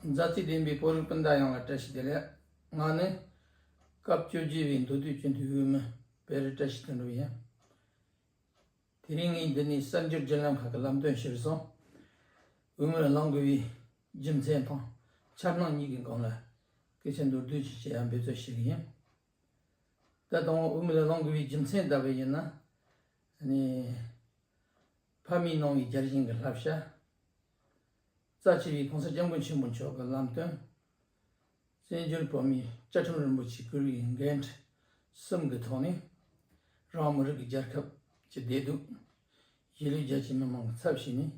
མཛའ་བརྩེ་ལྡན་པའི་བོད་རིགས་སྤུན་ཟླ་ཡོངས་ལ་བཀྲ་ཤིས་བདེ་ལེགས། ང་ནི། སྐབས་བཅོ་བརྒྱད་པའི་མདོ་སྟོད་སྤྱི་འཐུས་དབུས་མི་བེ་རི་བཀྲ་ཤིས་དོན་གྲུབ་ཡིན། དེ་རིང་ངས་འདི་ནས་གསར་འགྱུར་བརྒྱུད་ལམ་ཁག་གི་ལམ་སྟོན་གཞིར་བཟུང། དབུས་མི་ལ་བླང་དགོས་པའི་རྒྱུ་མཚན་དང་འཆར་སྣང་གཉིས་ཀྱི་སྒང་ལ་སྐད་ཆ་མདོར་བསྡུས་ཤིག་བཤད་ཡ་འབད་རྩོལ་བྱེད་ཀྱི་ཡིན། ད་ལྟ་བོད་མི་ལ་བླང་དགོས་པའི་རྒྱུ་མཚན་ལྟ་བུ་ཡིན་ན། ཕ་མའི་ནང་བའི་བརྒྱར་བྱིན་གྱི་བསླབ་བྱ། རྩ་ཆེ་བའི་གོང་ས་སྐྱབས་མགོན་ཆེན་པོ་མཆོག་གི་ལམ་སྟོན། བཙན་བྱོལ་བོད་མིའི་བཅའ་ཁྲིམས་རིན་པོ་ཆེ་བསྐུར་བའི་འགན་འཁྲི་གསུམ་གྱི་ཐོག་ནས། རང་མི་རིགས་ཀྱི་རྒྱལ་ཁབ་ཀྱི་བདེ་སྡུག། གཞིས་ལུས་རྒྱ་ཆེའི་མི་མང་གི་ཚབ་བྱས་ནས།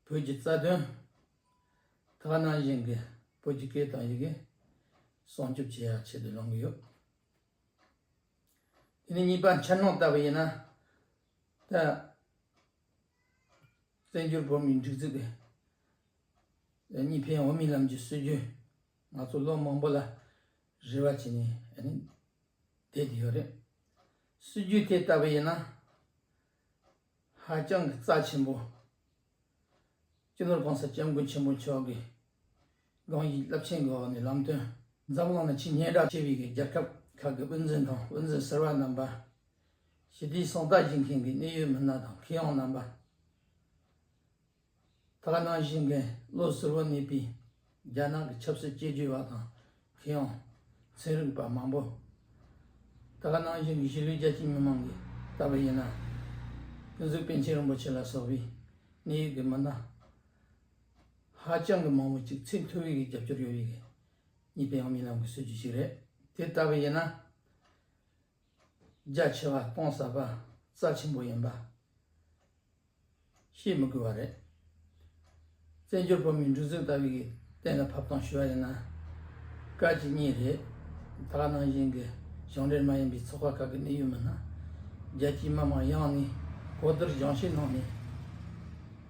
བོད་ཀྱི་རྩ་དོན། དག་སྣང་གཞན་གྱི་བོད་ཀྱི་སྐད་དང་ཡི་གེ། སྲུང་སྐྱོབ་བྱེད་ཡག་ཆེད་དུ་ལངས་ཀྱི་ཡོད། དེ་ནས་གཉིས་པ་འཆར་སྣང་ལྟ་བུ་ཡིན་ན། ད། བཙན་བྱོལ་བོད་མིའི་སྒྲིག་འཛུགས་པས་གཉིས་ཕན་འོས་མིན་ལམ་གྱི་སྲོལ་རྒྱུན་ང་ཚོ་ལོ་མང་པོ་ལ་རེ་བ་བྱས་ནས་བསྡད་ཡོད་རེད། སྲོལ་རྒྱུན་དེ་ལྟ་བུ་ཡིན་ན་ཧ་ཅང་གི་རྩ་ཆེན་པོ། སྤྱི་ནོར་གོང་ས་སྐྱབས་མགོན་ཆེན་པོ་མཆོག་གིས། རང་གི་རླབས་ཆེན་གྱི་འོག་ནས་ལམ་སྟོན་འཛམ་གླིང་ན་ཆེས་སྙན་གྲགས་ཆེ་བའི་རྒྱལ་ཁབ་ཁག་གི་དབུ་འཛིན་དང་དབུ་འཛིན་ཟེར་བ་རྣམ་པ། ཞི་བདེའི་སྲོག་རྟགས་སྦྱིན་མཁན་གྱི་གནད་ཡོད་མི་སྣ་དང་ཁེ་ཡོང་རྣམ་པ། དག་སྣང་བཞེངས་མཁན་བློ་ཟུར་བོ་གནས་པའི་རྒྱ་ནག་གི་ཆབ་སྲིད་དཔྱད་བརྗོད་པ་དང་ཁེ་ཡོང་ཚན་རིག་པ་མང་པོ། དག་སྣང་བཞེངས་མཁན་གཞིས་ལུས་རྒྱ་ཆེའི་མི་མང་གིས་ལྟ་བ་ཡིན་ན། ཀུན་གཟིགས་པཎ་ཆེན་རིན་པོ་ཆེ་ལ་སོགས་པའི་གནད་ཡོད་ཀྱི་མི་སྣ། ཧ་ཅང་གི་མང་བོ་ཅིག་ཚད་མཐོ་བའི་རྒྱབ་སྐྱོར་ཡོད་ཡིག་གཉིས་པའི་ཡང་མི་རྣམས་ཀྱི་སྲོལ་རྒྱུན་ཞིག་རེད་དེ་ལྟ་བུ་ཡིན་ན། རྒྱ་ཆེ་བ་སྟོང་ཟ་བ་རྩ་ཆེན་པོ་ཡིན་པ་ཤེས་མི་དགོས་པ་རེད། བཙན་བྱོལ་བོད་མིའི་འབྲུ་རྫིང་ལྟ་བུའི་གཏན་ལ་ཕབ་སྟངས་ཞུ་བ་ཡིན་ན། བཀའ་སྤྱི་གཉིས་རེད་དྭགས་ནང་བཞིན་གྱི་ཞིང་འབྲེལ་མ་ཡིན་པའི་ཚོགས་པ་ཁག་གི་གནད་ཡོད་མི་སྣ། རྒྱལ་སྤྱིའི་མི་མང་ཡང་ནས་གོ་བསྡུར་སྦྱང་བཤད་གནང་ནས།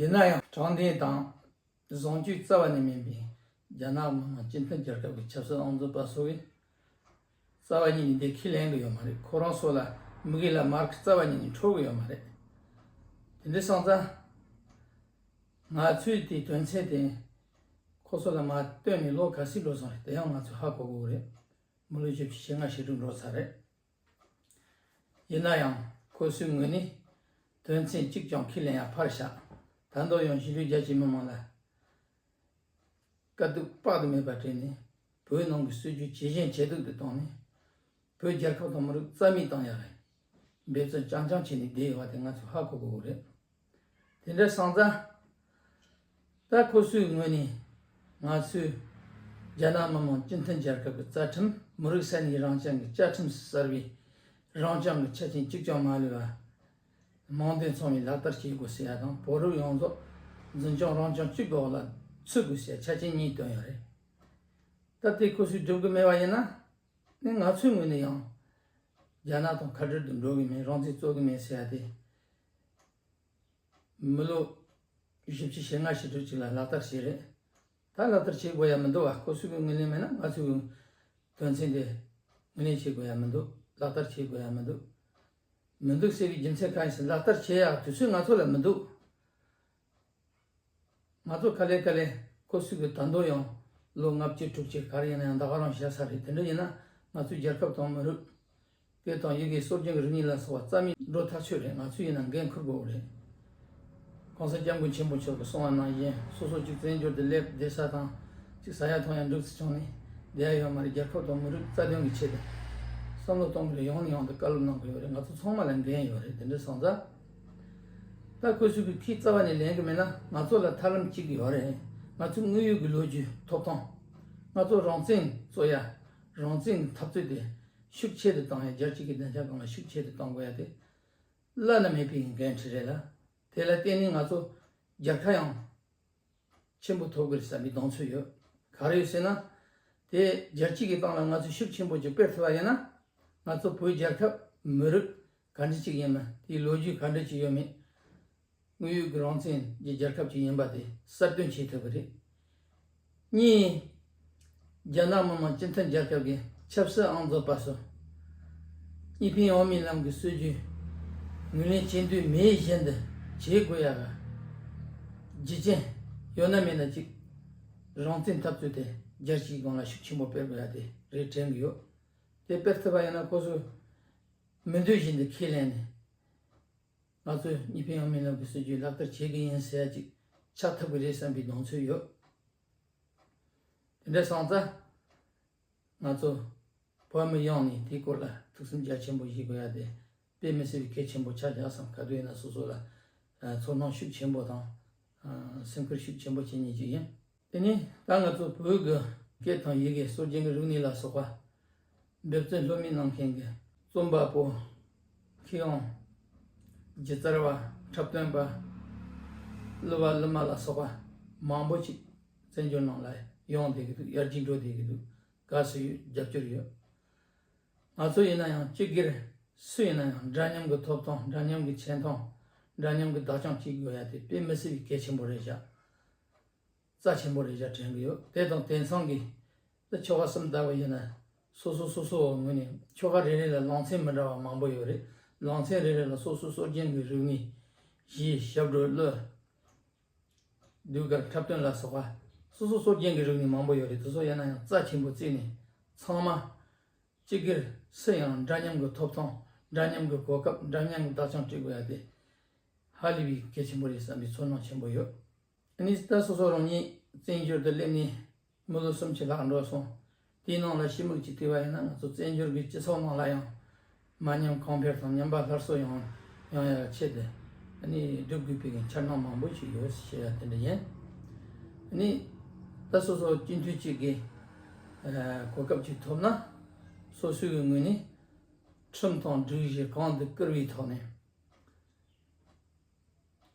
ཡིན་ན་ཡང་དྲང་བདེན་དང་བཟང་སྤྱོད་རྩ་བ་ནས་མེད་པའི་རྒྱ་ནག་མི་དམངས་སྤྱི་མཐུན་རྒྱལ་ཁབ་ཀྱི་ཆབ་སྲིད་ཨང་རྩོད་པ་སོགས་ཀྱི་རྩ་བ་ཉིད་ནས་འདེད་ཁས་ལེན་གི་ཡོད་མ་རེད་ཁོ་རང་སོགས་ལ་མི་གི་ལ་མར་ཁི་རྩ་བ་ཉིད་ནས་འཕྲོག་གི་ཡོད་མ་རེད་དེ་འདྲའི་སང་ཙང་ང་ཚོས་དེའི་དོན་ཚན་དེ་ཁོ་ཚོ་ལ་མ་བཏོན་ནས་ལོ་ག་ཚིག་འགྲོ་སོང་རེད་དེ་ཡང་ང་ཚོས་ཧ་གོ་གི་རེད་མི་ལོ་བཅུ་བཞི་ལྔ་ཞིག་འགྲོ་འགྲོ་ཚར་རེད། ཡིན་ན་ཡང་ཁོའི་གསུང་དངོས་ནི་དོན་ཚན་གཅིག་ཀྱང་ཁས་ལེན་ཡང་ཕར་བཞག་ད་མདོར་ཡང་གཞིས་ལུས་རྒྱ་ཆེའི་མི་མང་ལ་དཀའ་སྡུག་དཔག་ཏུ་མེད་པ་སྤྲད་ནས་བོད་ནང་གི་སྲོལ་རྒྱུན་ཇེ་ཞན་ཇེ་སྡུག་ཏུ་བཏང་ནས་བོད་རྒྱལ་ཁབ་དང་མི་རིགས་རྩ་མེད་བཏང་ཡག་རེད་འབད་བརྩོན་རྐྱང་རྐྱང་བྱས་ནས་བསྡད་ཡོད་པ་དེ་ང་ཚོས་ཧ་གོ་དགོས་རེད། དེ་འདྲ་སངས་རྩ། ད་ཁོ་སུའི་ངོས་ནས་ང་ཚོའི་རྒྱ་ནག་མི་མང་སྤྱི་མཐུན་རྒྱལ་ཁབ་ཀྱི་རྩ་ཁྲིམས་མི་རིགས་ས་གནས་རང་སྐྱང་གི་བཅའ་ཁྲིམས་སུ་གསར་བའི་རང་སྐྱང་གི་ཆ་རྐྱེན་གཅིག་ཀྱང་མ་ལུས་པར་དམངས་དོན་ཚང་མས་ལག་བསྟར་བྱེད་དགོས་ཟེར་ཡ་དང་བོད་རིགས་ཡོངས་རྫོགས་འཛིན་སྐྱོང་རང་སྐྱོང་གཅིག་གི་འོག་ལ་ཚུད་དགོས་ཟེར་ཆ་རྐྱེན་གཉིས་བཏོན་ཡོད་རེད། ད་དེ་ཁོ་སུས་སྒྲུབ་གི་མེད་པ་ཡིན་ན་ནི་ང་ཚོའི་ངོས་ནས་ཡང་རྒྱ་ནག་དང་ཁ་བྲལ་དུ་འགྲོ་གི་མེད་རང་བཙན་རྩོད་གི་མེད་ཟེར་ཡ་དེ་མི་ལོ་བཞི་བཅུ་ཞེ་ལྔ་ཞེ་དྲུག་ཅིག་ལ་ལག་བསྟར་བྱས་རེད། ད་ལག་བསྟར་བྱེད་དགོས་ཡ་མི་འདུག་བ་ཁོ་སུ་གི་ངོས་ལེན་མེད་ན་ང་ཚོ་གི་དོན་ཚན་དེ་ངོས་ལེན་བྱེད་དགོས་ཡ་མི་འདུག་ལག་བསྟར་བྱེད་དགོས་ཡ་མི་འདུག་མི་འདུག་ཟེར་བའི་རྒྱུ་མཚན་གང་ཡིན་ཟེར་ལག་བསྟར་བྱེད་ཡ་དུས་ཚོད་ང་ཚོ་ལ་མི་འདུག། ང་ཚོ་ཀ་ལའི་ཀ་ལའི་ཀོ་སུ་གི་དར་མདོ་ཡང་ལོ་ལྔ་བཅུ་དྲུག་ཅུ་གར་ཡིན་ན་ཡང་ད་ག་རང་བཞག་ས་རེད་དེ་འདྲ་ཡིན་ན་ང་ཚོའི་རྒྱལ་ཁབ་དང་མི་རུགས། བོད་དང་ཡུ་གེ་སོར་རྒྱུན་གྱི་རིག་གཉིས་ལ་སོགས་པ་རྩ་མེད་འགྲོ་ཐག་ཆོད་རེད་ང་ཚོས་ཡིན་ན་འགན་འཁུར་དགོས་རེད། གོང་ས་སྐྱབས་མགོན་ཆེན་པོ་མཆོག་གི་གསུང་བ་ནང་བཞིན་སོ་སོ་གཅིག་བཙན་བྱོལ་དུ་སླེབས་བསྡད་ས་དང་གཅིག་ས་ཡ་ཐོང་ཡ་འབྲུག་སི་བྱུང་ནས་བསྡད་ཡ་ཡོད་མ་རེད་རྒྱལ་ཁབ་དང་མི་རུགས་རྩ་དོན་གྱི་ཆེད་དུ་བསམ་བློ་གཏོང་དགོས་རེད་ཡང་ནས་ཡང་དུ་བཀའ་སློབ་གནང་དགོས་ཡོད་རེད་ང་ཚོ་ཚང་མ་ལ་འགན་ཡོད་རེད་དེ་འདྲའི་བཟང་རྩ། ད་སྐུ་གཟུགས་ཀྱི་མཐིལ་རྩ་བ་ནས་ལེན་གྱི་མེད་ན་ང་ཚོ་ལ་ཐབས་ལམ་གཅིག་ཡོད་རེད། ང་ཚོའི་དངོས་ཡོད་ཀྱི་ལོ་རྒྱུས་ཐོབ་ཐང། ང་ཚོ་རང་བཙན་རྩོད་ཡ། རང་བཙན་གྱི་འཐབ་རྩོད་དེ་ཤུགས་ཆེ་རུ་བཏང་ཡ་རྒྱལ་སྤྱི་གྱི་བདེ་འཇགས་གང་ལ་ཤུགས་ཆེ་རུ་བཏང་དགོས་ཡ་དེ་བླ་ན་མེད་པའི་འགན་འཁྲི་རེད་ལ། དེ་ལ་བརྟེན་ནས་ང་ཚོ་རྒྱལ་ཁ་ཡང་ཆེན་པོ་ཐོབ་གི་རེད་བསམ་པའི་གདེང་ཚོད་ཡོད། ག་རེ་ཡོད་ཟེར་ན། དེ་རྒྱལ་སྤྱི་གྱི་སྟངས་ལ་ང་ཚོས་ཤུགས་ཆེན་པོ་གཅིག་སྤེལ་ཐུབ་པ་ཡིན་ན། ང་ཚོ་བོད་རྒྱལ་ཁབ་མི་རིགས་ག་འདྲི་ཅིག་ཡིན་ན་དེའི་ལོ་རྒྱུས་ག་འདྲི་ཅིག་ཡོད་མེད་དངོས་ཡོད་ཀྱི་རང་བཙན་གྱི་རྒྱལ་ཁབ་ཅིག་ཡིན་པ་དེ་གསར་སྟོན་བྱེད་ཐུབ་པ་རེད། གཉིས། རྒྱ་ནག་མི་དམངས་སྤྱི་མཐུན་རྒྱལ་ཁབ་ཀྱི་ཆབ་སྲིད་ཨང་རྫོགས་པ་སོ་གཉིས་ཕིང་ཡོང་མིན་ལམ་གྱི་སྲོལ་རྒྱུན་ངོས་ལེན་བྱེད་འདོད་མེད་བཞིན་དུ་བྱེད་དགོས་ཡ་ག་རྗེ་ཅན་ཡོད་ན་མེད་ན་ཅིག་རང་བཙན་འཐབ་རྩོད་དེ་རྒྱལ་སྤྱིའི་སྒང་ལ་ཤུགས་ཆེན་པོ་སྤེལ་དགོས་ཡ་དེ་རེད་དྲན་གྱི་ཡོད་དེ་སྤེལ་ཐུབ་པ་ཡིན་ན་ཁོ་ཚོས། མི་འདོད་བཞིན་དུ་ཁས་ལེན་ནས། ང་ཚོས་གཉིས་ཕན་ཡོང་མིན་ལ་གུས་སྲོལ་བརྒྱུད་ལག་བསྟར་བྱེད་ཀྱི་ཡིན་ཟེར་ཡ་ཅིག་ཆགས་ཐུབ་ཀྱི་རེད་བསམ་པའི་གདོང་ཚོད་ཡོད། དེ་འདྲ་སོང་ཙང། ང་ཚོ་བོད་མི་ཡོངས་ནས་དེའི་སྐོར་ལ་ཐུགས་སེམས་རྒྱ་ཆེན་པོ་བཞེས་དགོས་ཡ་དེ་དཔེ་མི་སྲིད་པའི་གལ་ཆེན་པོ་ཆགས་བཞག་སམ་ག་དུས་ཡིན་ན་སོ་སོ་ལ་ཚོར་སྣང་ཤུགས་ཆེན་པོ་དང། སེམས་ཁུར་ཤུགས་ཆེན་པོ་བྱེད་ངེས་ཅིག་ཡིན། དེ་ནས་ད་ང་ཚོ་བོད་ཀྱི་སྐད་དང་ཡི་གེ་སྲོལ་རྒྱུན་གྱི་རིག་གནས་ལ་སོགས་པ་འདོད་བརྩོན་ལྷོད་མེད་གནང་མཁན་གྱི་རྩོམ་པ་པོ། མཁས་དབང། སྒྱུ་རྩལ་བ། འཁྲབ་སྟོན་པ། གླུ་བ་གླུ་མ་ལ་སོགས་པ་མང་པོ་ཞིག་བཙན་བྱོལ་ནང་ལ་ཡོང་བསྡད་ཀྱི་འདུག་ཡར་རྒྱས་འགྲོ་བསྡད་ཀྱི་འདུག་དགའ་བསུ་ཡོད་རྒྱབ་སྐྱོར་ཡོད། ང་ཚོ་ཡིན་ན་ཡང་སྤྱི་སྒེར་སུ་ཡིན་ན་ཡང་འདྲ་མཉམ་གྱི་ཐོབ་ཐང་འདྲ་མཉམ་གྱི་ཆེ་མཐོང་འདྲ་མཉམ་གྱི་བདག་སྐྱོང་བྱེད་དགོས་ཡ་དེ་དཔེ་མི་སྲིད་པའི་གལ་ཆེན་པོ་རེད་བཞག་རྩ་ཆེན་པོ་རེ་བཞག་དྲན་གྱི་ཡོད་དེ་དང་དེང་སང་གི་ལ་ཆོ་ག་གསུམ་དར་བ་ཡིན་ན་སོ་སོ་སོ་སོའ་ངོས་ནས་ཆོ་ག་རེ་རེ་ལ་ལང་ཚན་མི་འདྲ་བ་མང་པོ་ཡོད་རེད་ལང་ཚན་རེ་རེ་ལ་སོ་སོའ་སྲོག་རྒྱན་གྱི་རིག་གནས། ཞེས་ཞབས་བྲོའ་བློས། ཟློས་གར་འཁྲབ་སྟོན་ལ་སོགས་པ་སོ་སོའ་སྲོག་རྒྱན་གྱི་རིག་གནས་མང་པོ་ཡོད་རེད་དེ་ཚོ་ཡིན་ན་ཡང་རྩ་ཆེན་པོ་བརྩིས་ནས་ཚང་མ་སྤྱི་སྒེར་སུ་ཡང་འདྲ་མཉམ་གྱི་ཐོབ་ཐང་འདྲ་མཉམ་གྱི་གོ་སྐབས་འདྲ་མཉམ་གྱི་བདག་ཅག་བྲི་དགོས་ཡ་དེ། ཧ་ལས་པའི་སྐད་ཆེན་པོ་རེད་བསམ་པའི་ཚོར་སྣང་ཆེན་པོ་ཡོད། ཨཱ་ནི་ད་སོ་སོ་རང་ཉིད་བཙན་བྱོལ་དུ་སླེབས་ནས་མི་ལོ་སུམ་ཅུ་ལྷག་འགྲོ་སོང། དེའི་ནང་ལ་ཤི་མུག་ཅིག་བྲིས་པ་ཡིན་ན་ང་ཚོ་བཙན་བྱོལ་གྱི་སྤྱི་ཚོགས་ནང་ལ་ཡང་མ་ཉམས་གང་ཕེར་དང་ཉམས་པ་སླར་གསོ་ཡང་ཡང་ཡང་བྱས་ཏེ་ཨཱ་ནི་སྒྲུབ་དགོས་པའི་འཆར་སྣང་མང་པོ་ཞིག་ཡོད་ཞེས་ཡ་དེ་འདྲ་ཡིན། ཨཱ་ནི་ད་སོ་སོ་སྤྱི་འཐུས་གཅིག་གི་གོ་སྐབས་ཅིག་ཐོབ་ན། སོ་སོའི་ངོས་ནས་ཁྲིམས་དང་སྒྲིག་གཞི་གང་དུ་བཀུར་བའི་ཐོག་ནས།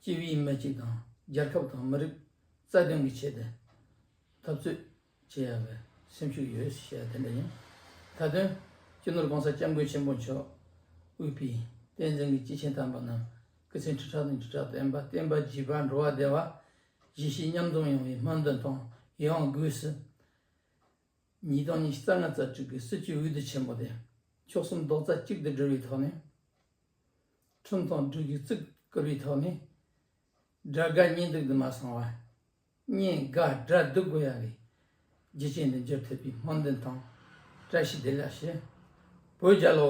སྤྱི་བའི་མི་གཅིག་དང་རྒྱལ་ཁབ་དང་མི་རིགས་རྩ་དོན་གྱི་ཆེད་དུ་འཐབ་རྩོད་བྱེད་ཡག་པའི་སེམས་ཤུགས་ཡོད་ཞེས་པ་དེ་འདྲ་ཡིན། ད་དོན་སྤྱི་ནོར་གོང་ས་སྐྱབས་མགོན་ཆེན་པོ་མཆོག་དབུས་པའི་བསྟན་འཛིན་གྱི་སྤྱི་ཆིངས་དམ་པ་རྣམས་སྐུ་ཚེ་ཁྲི་ཕྲག་ནས་ཁྲི་ཕྲག་བརྟན་པ་བརྟན་པ་བརྗིད་པ་འགྲོ་བ་བདེ་བ་བཞི་ཤེས་མཉམ་འཛོམས་ཡོང་བའི་སྨོན་འདུན་དང་ཡང་སྒོས་སུ། ཉིས་སྟོང་ཉིས་བརྩ་ལྔ་རྩ་དྲུག་གི་སྲིད་བྱུས་འོས་བསྡུ་ཆེན་མོ་དེ་མཆོག་གསུམ་རྡོག་རྩ་གཅིག་ཏུ་སྒྲིལ་བའི་ཐོག་ནས། ཁྲིམས་དང་སྦྲུལ་གྱི་རྩིག་བསྐུར་བའི་ཐོག་ནས། དགྲ་དགའ་གཉེན་སྡུག་དུ་མ་སོང་བར། གཉེན་དགའ་དགྲ་སྡུག་དགོས་ཡ་གི། རྒྱུ་ཅན་དུ་འགྱུར་ཐུབ་པའི་སྨོན་འདུན་དང་བཀྲ་ཤིས་བདེ་ལེགས་ཞུ། བོད་རྒྱལ་ལོ།